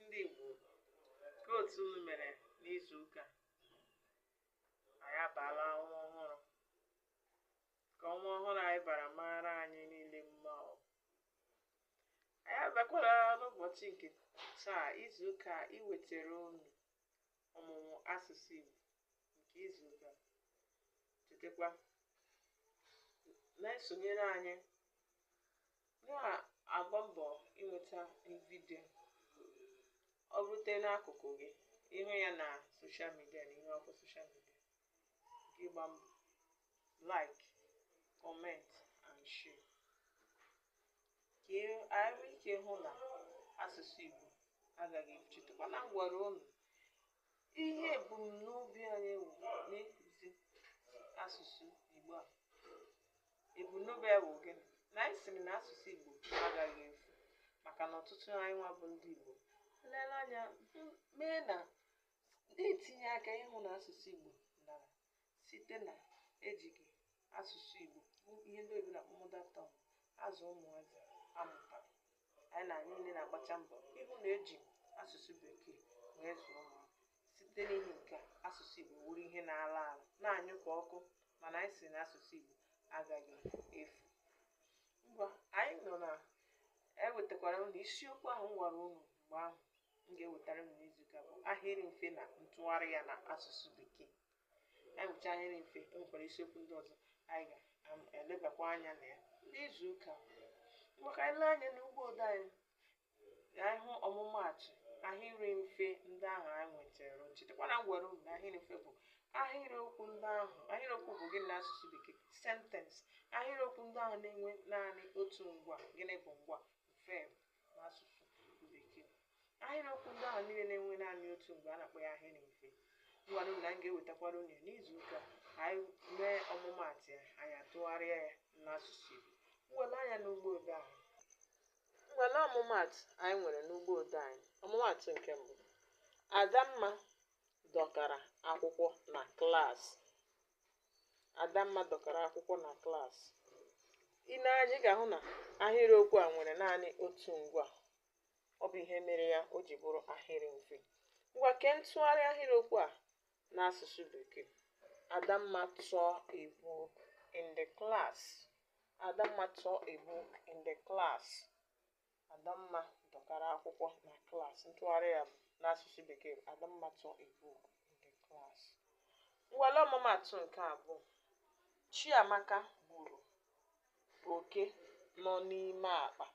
ndị Igbo kee otu unu mere n'izu ụka anyị abaala ọnwa ọhụrụ ka ọnwa ọhụrụ anyị bara mara anyị niile mma o anyị abịakwala n'ụbọchị nke taa izu ụka iwetara unu ọmụmụ asụsụ Igbo nke izu ụka chetakwa na-esonyere anyị na-agba mbọ i nweta vidio o rute n'akụkụ gị ị hụ ya na soshal midia na ihe ọkụ soshal midia gị gba mbọ like comment and share ka e- anyị nwee ike hụ na asụsụ Igbo agaghị efu chetakwa na m gwara unu ihe ebumnobi anyị wụ n'ịkụzi asụsụ Igbo a Ebumnobi ya bụ gịnị? Na anyị sịrị na asụsụ Igbo agaghị efu maka na ọtụtụ anyị nwa bụ ndị Igbo lere anya mee na na-etinye aka ịhụ na asụsụ Igbo dara site na ejighị asụsụ Igbo ihe ndị oyibo na-akpọ mother tongue azụ ụmụazị a mụtara anyị na anyị niile na-agbacha mbọ ịhụ na e ji asụsụ bekee wee zụọ ụmụazị site n'ihi nke a asụsụ Igbo wụrụ ihe na-ala ala na-anyụ ka ọkụ mana anyị sị na asụsụ Igbo agaghị efu ngwanụ na ewetakwara m unu isiokwu ahụ m gwara unu mgbe ahụ m ga-ewetara unu n'izuụka bụ ahịrị mfe na ntụgharị ya na asụsụ bekee anyị mụcha ahịrị mfe e nwekwara isiokwu ndị ọzọ anyị ga-elebakwa anya na ya n'izuụka ngwa ka anyị lee anya n'ugbo odee anyị ka anyị hụ ọmụmaatụ ahịrị mfe ndị ahụ anyị nwetara chetakwa na m gwara unu na ahịrị mfe bụ ahịrịokwu ndị ahụ ahịrịokwu bụ gịnị n'asụsụ bekee sentence ahịrịokwu ndị ahụ na-enwe naanị otu ngwaa gịnị bụ ngwaa verb n'asụsụ bekee ahịrịokwu ndị ahụ niile na-enwe naanị otu ngwaa a na-akpọ ya ahịrị mfe ngwanụ na m ga-ewetakwara unu ya n'izu ụka ka anyị mee ọmụmaatụ ya anyị atụgharịa ya n'asụsụ Igbo ngwa lee anya n'ugbo odee ahụ Ngwa lee ọmụmaatụ anyị nwere n'ugbo odee anyị. Ọmụmaatụ nke mbụ, Adamma dọkara akwụkwọ na klaasị. Adamma dọkara akwụkwọ na klaasị. I nee anya, ị ga-ahụ na ahịrịokwu a nwere naanị otu ngwaa. Ọ bụ ihe mere ya o ji bụrụ ahịrị mfe. Ngwa kee ntụgharị ahịrịokwu a n'asụsụ bekee adamma tore a book in the class adamma tore a book in the class adamma dọkara akwụkwọ na klas ntụgharị ya n'asụsụ bekee bụ adamma tore a book in the class ngwa lee ọmụmaatụ nke abụọ chiamaka gburu oke nọ n'ime akpa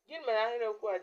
gịnị mere ahịrịokwu a ji